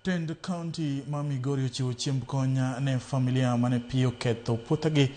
Tend kaunti ma Migori ochiwo chiemb kony ne familia mane pi oketho puothegi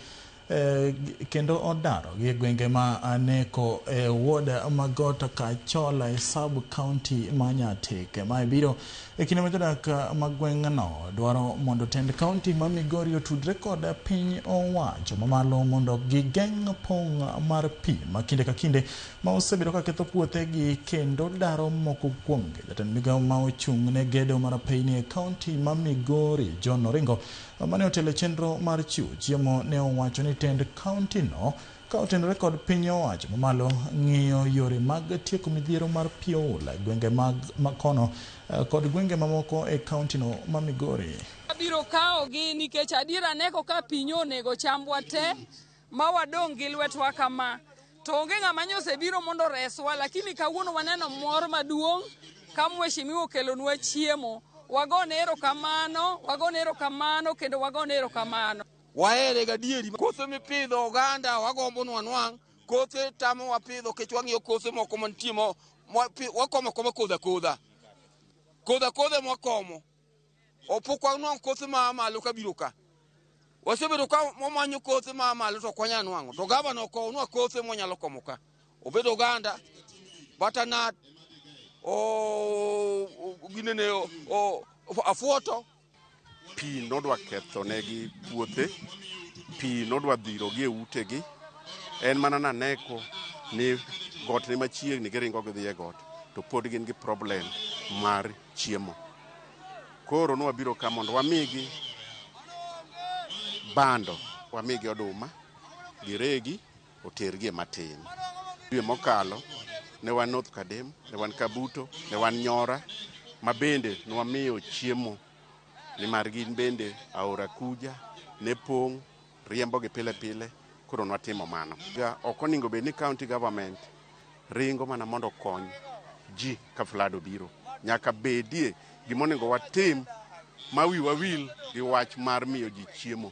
eh, kendo odaro gi gwenge ma Aneko e wod Magot Kachola e sub kaunti ma Nyatike. Mae biro e kinde ma jodak ma gweng'no dwaro mondo tend kaunti ma Migori otudre kod piny owacho mamalo mondo gigeng' pong' mar pi ma kinde ka kinde ma osebedo ka ketho puothe gi kendo daro moko kuomgi. Jatend migao ma ochung' ne gedo mar apeyni e kaunti ma Migori, John Oringo, mane otelo e chenro mar chiwo chiemo ne owacho ni tend kaunti no ka otenore kod piny owacho mamalo ng'iyo yore mag tieko midhiero mar pi oula e gwenge mag makono eh, kod gwenge mamoko e kaunti no ma Migori. Abiro kawogi nikech adiera neko ka pinyo onego chambwa te. ma wadong' gi lwetwa kama to onge ng'ama nyo osebiro mondo reswa, lakini kawuono waneno mor maduong' ka mheshimiwa okelonwa chiemo. Wagone erokamano, wagone erokamano kendo wagone erokamano. Wahere gadieri. Kothe mipidho oganda wagombo ni wanwang'. Kothe tamo wapidho kech wang'iyo kothe moko mantie mo wakomo akoma kodha kodha. Kodha kodha ema wakomo. Opukwa nwang' kothe ma malo ka biro ka. Wasebedo ka wamanyo kothe ma malo to kwanya nwang'o. To gavana okowo nwa kothe mwanyalo komo ka. Obedo oganda, butternut, o, o ginene o, o, afuoto. Pi nodwa kethonegi puothe, pi nodwa dhirogi e utegi. En mana naneko ni got ni machiegni giringo gidhi e got to pod gin gi problem mar chiemo. Koro ne wabiro ka mondo wamigi bando, wamigi oduma, giregi, otergi e matin. Dwe mokalo ne wan North Kadem, ne wan Kabuto, ne wan Nyora, ma bende ne wamiyo chiemo nimar gin bende aora Kuja ne pong' riembogi pile pile koro nwatimo mano. Ok oningo bed ni county government ringo mana mondo okony ji ka flood obiro. Nyaka bedie gima oningo watim ma wi wawil gi wach mar miyo ji chiemo.